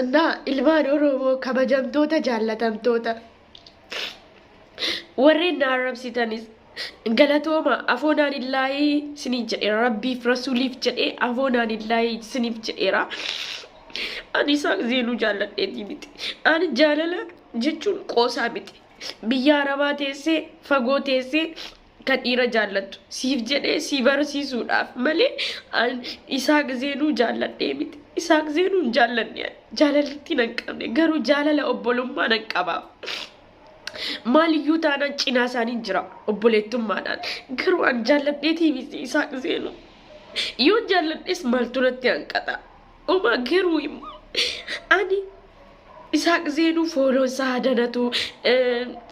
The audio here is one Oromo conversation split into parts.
እና ilmaan oromoo kabajamtoota jaallatamtoota warreen na arrabsitanis galatooma afoonaan illaahii siniif jedheera rabbiif rasuuliif jedhee afoonaan illaahii siniif jedheera ani isaa zeenuu jaalladheetii miti ani jaalala jechuun qoosaa miti biyya arabaa teessee fagoo teessee kan dhiira jaallattu siif jedhee si barsiisuudhaaf malee an isaaq zeenuu jaalladhee miti isaaq zeenuu hin jaallanne ani. jaalalatti nan qabne garuu jaalala obbolummaa nan qabaaf maaliyyuu taanaan cinaa isaaniin jira obboleettummaadhaan garuu an jaalladheetii miti isaaq zeenuu yoo jaalladhes maaltu natti hanqata Oma garuu immoo ani Isaaq Zeenuu fooloo isaa hadanatu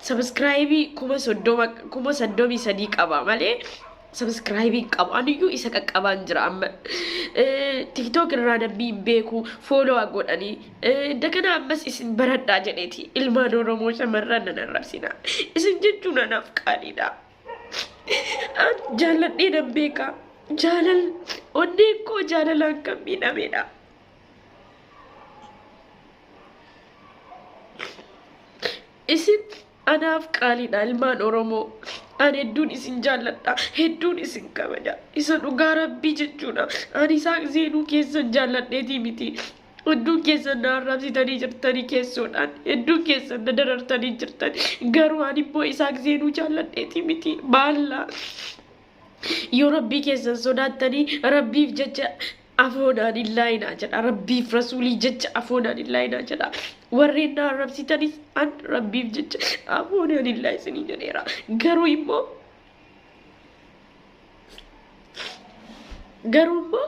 sabiskiraayibii kuma soddoma kuma saddomii sadii qaba malee sabiskiraayibii hin qabu aniyyuu isa qaqqabaan jira amma tiktook irraa namni hin beeku fooloo godhanii dagana ammas isin baradhaa jedheeti ilmaan oromoo shamarran nan arrabsina isin jechuun anaaf qaaliidha. jaalladhee nan beeka. Jaalal onneen koo jaalalaan kan miidhamedha. Isin anaaf qaaliidha ilmaan Oromoo. Ani hedduun isin jaalladha. Hedduun isin kabaja. Isa dhugaa rabbii jechuudha. Ani isaa seenuu keessan jaalladheetii miti. Hedduun keessan na arrabsitanii jirtanii keessoodhaan. Hedduun keessan na darartanii jirtan. Garuu ani immoo Isaaq Zeenuu jaalladheeti miti. Maallaa yoo rabbii keessan sodaattanii rabbiif jecha afoonaan hin laayinaa jedha. Rabbiif rasuulii jecha afoonaan hin laayinaa jedha. Warreen na arrabsitanis an rabbiif jecha afoonaan hin laayisinii jedheera. Garuu immoo garuu immoo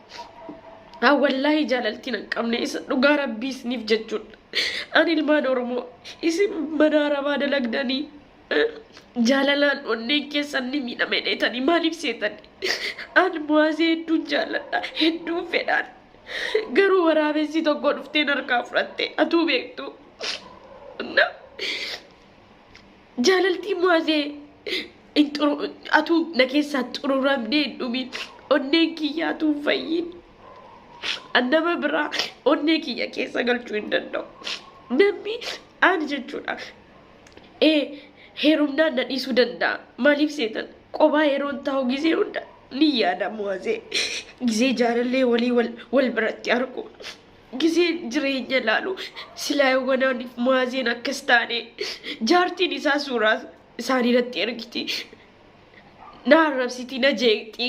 Haa wallaahi jaalaltiin hin qabne isa dhugaa rabbii isiniif jechuudha. Ani ilmaan Oromoo isin mana arabaa dalagdanii eh, jaalalaan onneen keessan ni miidhame dheetanii maaliif seetan? An muwaazee hedduun jaalladha hedduun fedhaan garuu waraabessi tokko dhufteen harkaa fudhatte atuu beektu. Na- Jaalaltii mu'azee hin xuru- atuu na keessaa xururamnee hin dhumin onneen kiyyaa atuu hin fayyin An nama biraa onnee kiyya keessa galchuu hin danda'u namni ani jechuudha ee heerumnaan na dhiisuu danda'a maaliif seetan qobaa yeroon taa'u gisee hunda ni yaada mu'azee gisee jaalallee walii wal, wal biratti argu Gizeen jireenya ilaalu silaa Yowwanaan fi Maazeen akkas taane jaartiin isaa suuraa isaanii natti ergiti. Na arrabsiti, na jeeqxi.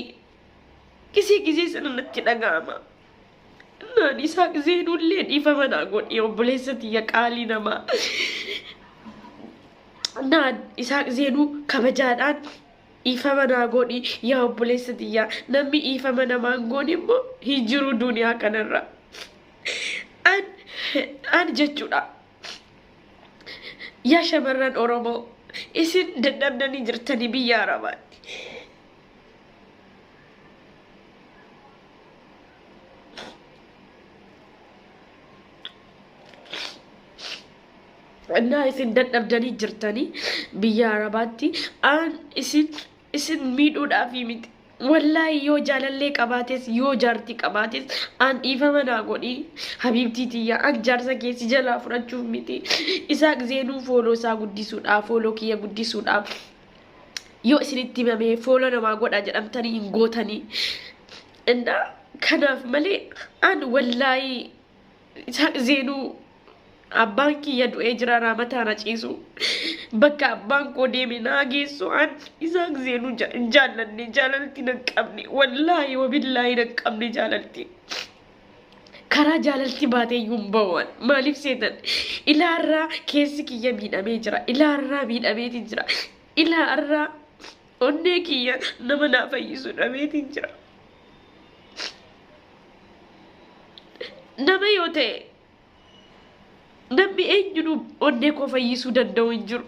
Gizee gizee sana natti dhaga'ama. Naan isaa Gizeenullee dhiifama naa godhi obboleessa tiyya qaalii namaa. Naan isaa Gizeenuu kabajaadhaan Dhiifama naa godhi yaa obboleessa tiyyaa namni dhiifama namaa hin goone immoo hin jiru duniyaa kanarra an an jechuudha yaa shamarran oromoo isin dadhabdanii jirtanii biyya arabaatti Innaa isin dadhabdanii jirtanii biyya Arabaatti aan isin isin miidhuudhaafii miti. Wallaahi yoo jaalallee qabaates yoo jaarti qabaates aan dhiifama naa godhi habiibtii tiyya an jaarsa kee si jalaa fudhachuuf miti. Isaaq zeenuu fooloo isaa guddisuudhaaf fooloo kiyya guddisuudhaaf yoo isinitti himamee fooloo namaa godha jedhamtanii hin gootanii. Innaa kanaaf malee aan wallaahi Isaan zeenuu abbaan kiyya du'ee jira raamataa na ciisu bakka abbaan koo deeme naa geessu an isaan zeenuu ja- hin jaallanne jaalalti nan qabne wallaahi wabillaahi nan qabne jaalalti karaa jaalalti baatee iyyuu hin ba'uwan maaliif seetan ilaarraa keessi kiyya miidhamee jira ilaarraa miidhameeti jira ilaarraa onnee kiyya nama naa fayyisu dhabeeti jira nama yoo ta'e namni eenyuun onnee koo fayyisuu danda'u hin jiru.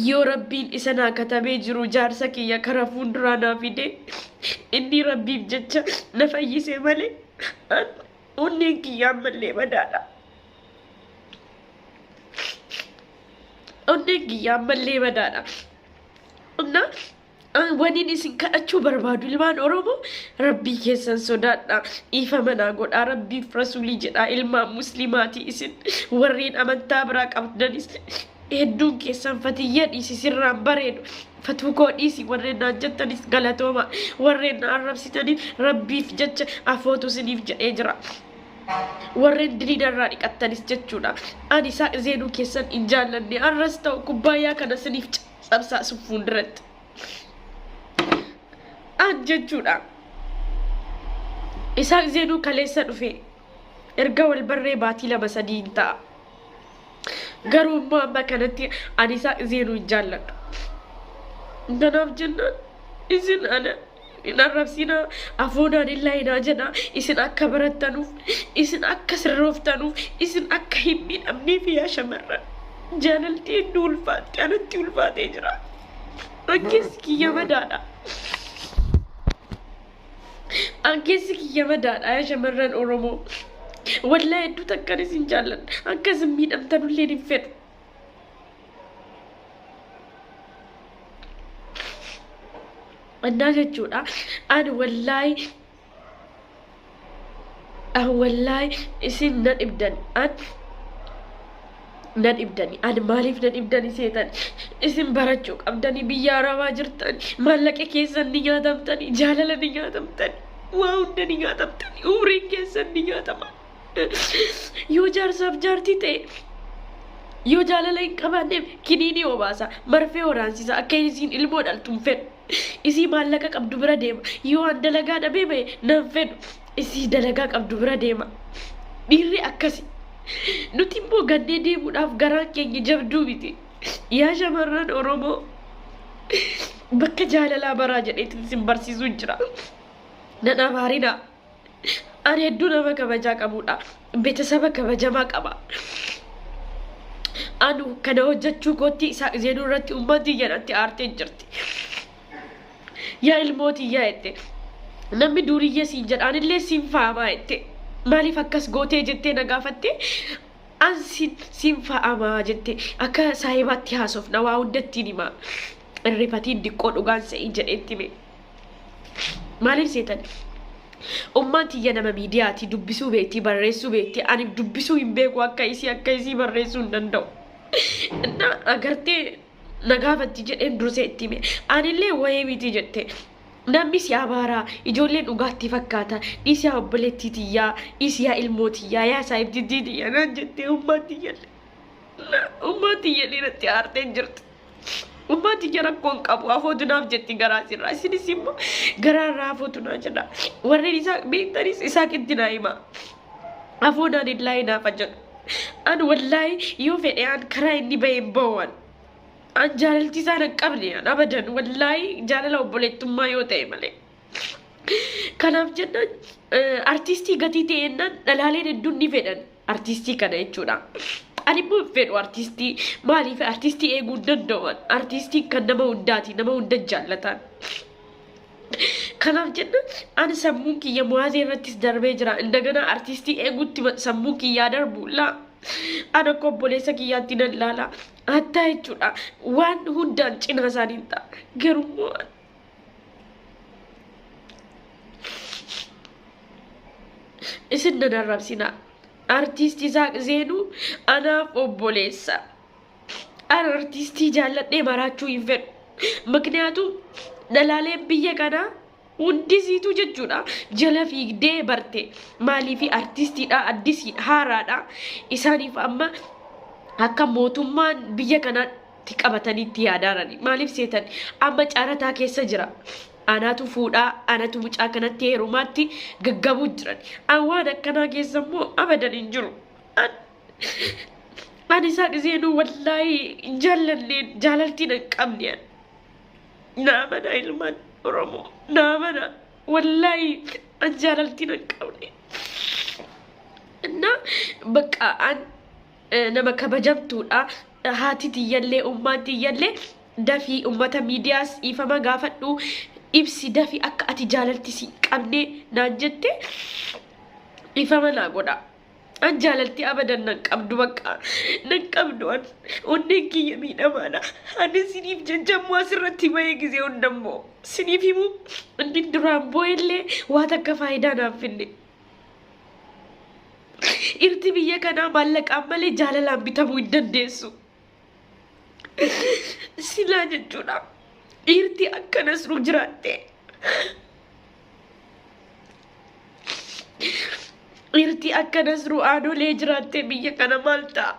Yoo rabbiin isa naa katabee jiru jaarsa kiyya kara fuulduraa naa fide inni rabbiif jecha na fayyise malee an onneen kiyya ammallee madaadha. Onneen kiyya ammallee madaadha. Onnaa An waniin isin kadhachuu barbaadu ilmaan Oromoo rabbii keessan sodaadha dhiifama naa godhaa rabbiif rasuulii jedhaa ilmaan muslimaati isin warreen amantaa biraa qabdanis hedduun keessan fatiyya dhiisi sirraan bareedu fatuu koo dhiisi warreen naan jettanis galatooma warreen na arrabsitaniif rabbiif jecha afootu isiniif jedhee jira. warreen diriida irraa dhiqattanis jechuudha. Ani isaa zeenuu keessan hin jaallanne arras ta'u kubbaayyaa kana isiniif Sabsaasuuf fuulduratti aad jechuudha. Isaaq Zeenuu kaleessa dhufe erga wal barree baatii lama sadii hin ta'a. Garuu immoo amma kanatti ani Isaaq Zeenuu hin jaalladhu. Kanaaf jennaan isin ana hin arrabsina afuudhaan hin laayinaa jedha isin akka barattanuuf isin akka sirrooftanuuf isin akka hin miidhamneef yaa shamarran jaalalti hedduu ulfaatti anatti ulfaatee jira ankeessi kiyya madaadha ankeessi kiyya madaadha yaa shamarran oromoo wallaa hedduu takkan isin jaalladha akka isin miidhamtanulleen hin fedhu Annaa jechuudha. Ani wallaahi an wallaahi isin na dhibdan an na dhibdani ani maaliif na dhibdani seetan isin barachuu qabdani biyya arabaa jirtan maallaqa keessan ni nyaatamtani jaalala ni nyaatamtani waa hunda ni nyaatamtani umriin keessan ni nyaatama Yoo jaarsaaf jaartii ta'e yoo jaalala hin qabaanneef kiniinii obaasa marfee horaansisa akka isiin ilmoo dhaltu hin fedhu. Isii maallaqa qabdu bira deema. Yoo an dalagaa dhabee bahe nan fedhu. Isii dalagaa qabdu bira deema. Dhiirri akkasi. Nuti immoo gannee deemuudhaaf garaan keenya jabduu miti. Yaa shamarran Oromoo bakka jaalalaa baraa jedheetiin sin barsiisuu jira. Nan abaarinaa. Ani hedduu nama kabajaa qabudha. Betasaba kabajamaa qaba. Anu kana hojjechuu kootti Isaaq Zeenuu irratti ummaan tiyya natti aartee jirti. Yaa ilmoo tiyyaa jette. Namni duuriyyee siin jedhaanillee siin faamaa jette. Maaliif akkas gootee jettee na gaafatte an siin siin faamaa jette. Akka saahibaatti haasofna waa hundattiin himaa. Irrifatiin diqqoo dhugaan se'ii jedheetti hime. Maaliif seetan? Ummaan tiyya nama miidiyaati dubbisuu beekti barreessuu beekti ani dubbisuu hin beeku akka isii akka isii barreessuu hin danda'u. Inna agartee na gaafatti jedheen dursee itti hime anillee wayee miti jette. Namni si abaaraa ijoolleen dhugaatti fakkaata dhiisi yaa obboleettii tiyyaa dhiisi yaa ilmoo tiyyaa yaa saahibtittii tiyyaa naan jettee ummaan tiyyalle. Ummaan tiyya dhiiratti aartee jirti. Ummaa tiyya rakkoo hin qabu afootu naaf jetti garaa sirraa isinis immoo garaa irraa afootu naa jedha warreen isaa beektanis isaa qitti naa hima afoodaan hin laayee naaf jedhu an wallaahi yoo fedhe an karaa inni bahee hin bahuwan an jaalalti isaan hin qabne an abadan wallaahi jaalala obboleettummaa yoo ta'e malee. Kanaaf jennaan artiistii gatii ta'e jennaan dhalaaleen hedduun ni fedhan artiistii kana jechuudha. Ani immoo hin fedhu artiistii maaliif artiistii eeguu hin danda'u artiistii kan nama hundaati nama hunda jaallataan. Kanaaf jenna ani sammuun kiyya muwaazee irrattis darbee jira. Indagana artiistii eeguutti sammuun kiyyaa darbu laa. Ana akka obboleessa kiyyaatti nan laala. Hattaa jechuudha. Waan hundaan cinaa isaanii ta'a. Garuu isin nan arrabsinaa artiist isaaq zeenuu anaaf obboleessa an artiistii jaalladhee maraachuu hin fedhu ምክንያቱም dhalaaleen biyya kanaa hundisiitu jechuudha jala fiigdee barte maaliifi artiistiidha addisiidha haaraadha isaaniif amma akka mootummaan biyya kanaa itti qabatanii itti yaadaarani maaliif seetan amma caarataa keessa jira anaatu fuudhaa anatu mucaa kanatti heerumaatti gaggabuu jiran an waan akkanaa keessa immoo abadan hin jiru An- ani isaa dhiseenuu wallaahi hin jaallanne jaalaltiin hin qabne an. naa mana ilmaan oromoo naa mana wallaahi an jaalaltiin hin qabne እና በቃ አን nama kabajamtuudha. Haati tiyyallee, ummaan tiyyallee dafi ummata miidiyaas dhiifama gaafadhu ibsi dafi akka ati jaalalti si qabne naan jette dhiifama naa godha. An jaalalti abadan nan qabdu bakka nan qabdu an onneen kiyya miidhamaadha. Ani siniif jajjammoo asirratti bahee gisee hundammoo siniif himuu inni duraan boo'ellee waa takka faayidaa naaf finne. Dhirti biyya kanaa maallaqaan malee jaalalaan bitamuu hin dandeessu. Silaa jechuudha. Dhiirti akkanas nu jiraatte. Dhiirti akkanas nu aanolee jiraatte biyya kana maal ta'a?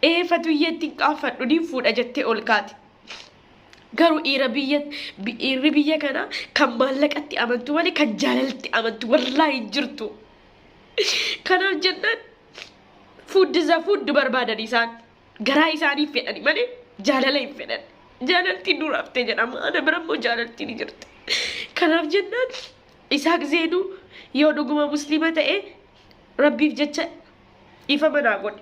Ee fatuyyeetti hin qaanfadhu ni fuudha jettee ol kaate. Garuu dhiira biyya dhiirri biyya kana kan maallaqatti amantu malee kan jaalalatti amantu wallaahi hin jirtu. Kanaaf jennaan fuuddi za fuuddi barbaadan isaan garaa isaanii fedhani malee jaalala hin fedhan. Jaalaltiin dura hafte jedhama. Ana bira immoo jaalaltiin ni jirti. Kanaaf jennaan Isaaq Zeenuu yoo dhuguma musliima ta'e rabbiif jecha dhiifama naa godhe.